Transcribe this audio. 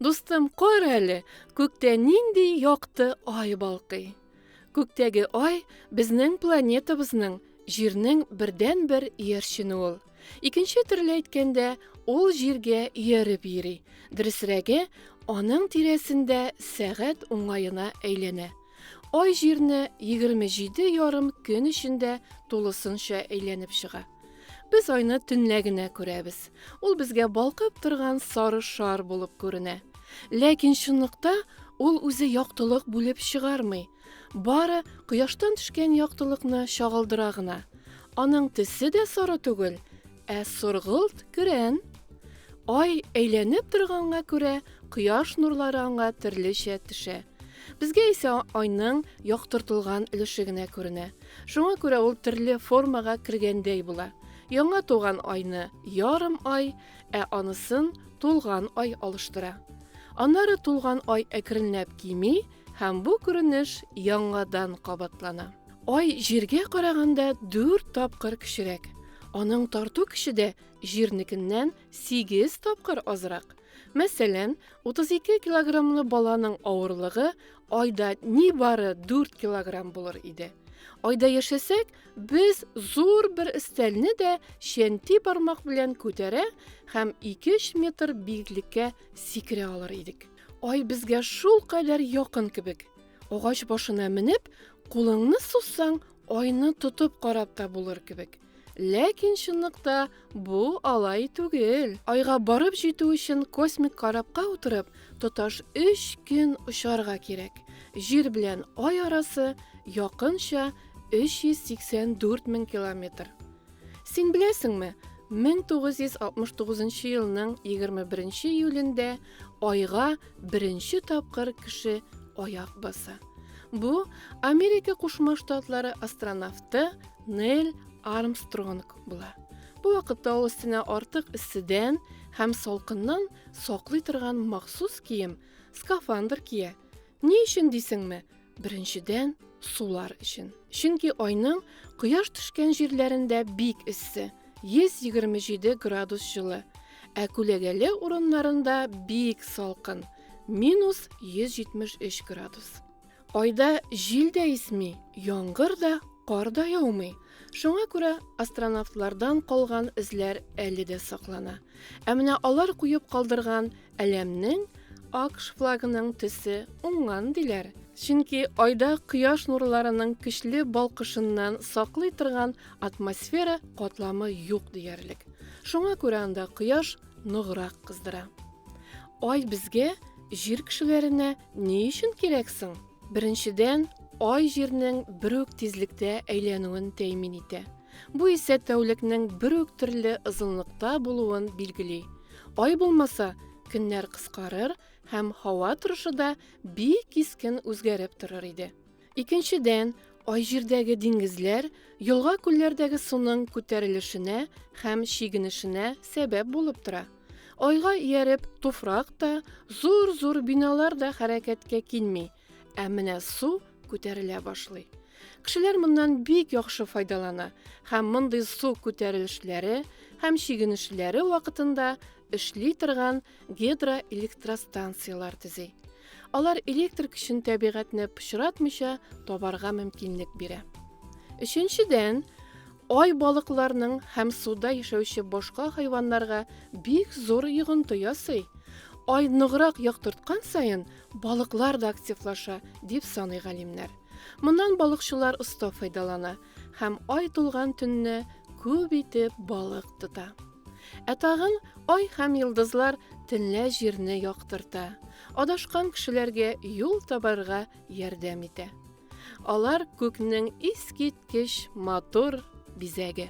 Дустым, кор әле, күктә нинди якты ай балкый. Күктәге ай безнең планетабызның, җирнең бердән-бер иярчене ул. Икенче төрле әйткәндә, ул җиргә ияреп йөри. Дөресрәге, аның тирәсендә сәгать уңаена әйләнә. Ай җирне 27 ярым көн эчендә тулысынча әйләнеп чыга. Без айны төнлә генә күрәбез. Ул безгә балкып торган сары шар булып күренә. Ләкин чынлыкта ул үзе яктылык бүлеп чыгармый, Бары кояштан төшкән яктылыкны чагылдыра гына. Аның төсе дә соры түгел, ә соргылт көрән. Ай әйләнеп торганга күрә, кояш нурлары аңа төрлечә төшә. Безгә исә айның яктыртылган өлеше генә күренә. Шуңа күрә ул төрле формага кергәндәй була. Яңа туган айны ярым ай, ә анысын тулган ай алыштыра. Аннары тулган ай әкренләп кими, Һәм бу күренеш яңадан кабатлана. Ай җиргә караганда дүрт тапкыр кечерәк. Аның тарту көче дә җирнекеннән сигез тапкыр азрак. Мәсәлән, 32 килограммлы баланың авырлыгы айда нибары 4 килограмм булыр иде. Айда яшәсәк, без зур бер өстәлне дә чәнти бармак белән күтәрә һәм 2-3 метр биеклеккә сикерә алыр идек. Ай безгә шул кадәр якын кебек. Агач башына менеп, кулыңны сузсаң, айны тотып карап та булыр кебек. Ләкин чынлыкта бу алай түгел. Айга барып җитү өчен космик карапка утырып, тоташ 3 көн очарга кирәк. Җир белән ай арасы якынча 384 мең километр. Син беләсеңме, 1969 нчы елның 21 нче июлендә Айга беренче тапкыр кеше аяк баса. Бу Америка Кушма Штатлары астронавты Нель Армстронг була. Бу вакытта ул өстенә артык эсседән һәм салкыннан саклый торган махсус кием, скафандр кия. Ни өчен дисеңме? Беренчедән, сулар өчен. Чөнки айның кояш төшкән җирләрендә бик эссе, 127 градус җылы, ә күләгәле урыннарында бик салкын, минус 173 градус. Айда җил дә исми, яңгыр да, кар да яумый. Шуңа күрә астронавтлардан калган эзләр әле дә саклана. Ә менә алар куеп калдырган Әләмнең АКШ флагының төсе уңган диләр. Чөнки айда кояш нурларының көчле балкышыннан саклый торган атмосфера катламы юк диярлек. Шуңа күрә анда кояш ныграк кыздыра. Ай безгә, җир кешеләренә ни өчен кирәк соң? Беренчедән, ай җирнең бер үк тизлектә әйләнүен тәэмин итә. Бу исә тәүлекнең бер үк төрле озынлыкта булуын билгели. Ай булмаса, көннәр кыскарыр һәм һава торышы да бик кискен үзгәреп торыр иде. Икенчедән, Ай җирдәге диңгезләр, елга-күлләрдәге суның күтәрелешенә һәм чигенешенә сәбәп булып тора. Айга ияреп, туфрак та, зур-зур биналар да хәрәкәткә килми, Ә менә су күтәрелә башлый. Кешеләр моннан бик яхшы файдалана һәм мондый су күтәрелешләре һәм чигенешләре вакытында эшли торган гидроэлектростанцияләр төзи. Алар электр көчен табигатьне пычратмыйча табарга мөмкинлек бирә. Өченчедән, Ай балыкларның һәм суда яшәүче башка хайваннарга бик зур йогынты ясый. Ай ныграк яктырткан саен, балыклар да активлаша, дип саный галимнәр. Моннан балыкчылар оста файдалана һәм ай тулган төнне күп итеп балык тота. Ә тагын ай һәм йолдызлар төнлә җирне яктырта, адашкан кешеләргә юл табарга ярдәм итә. Алар күкнең искиткеч матур бизәге.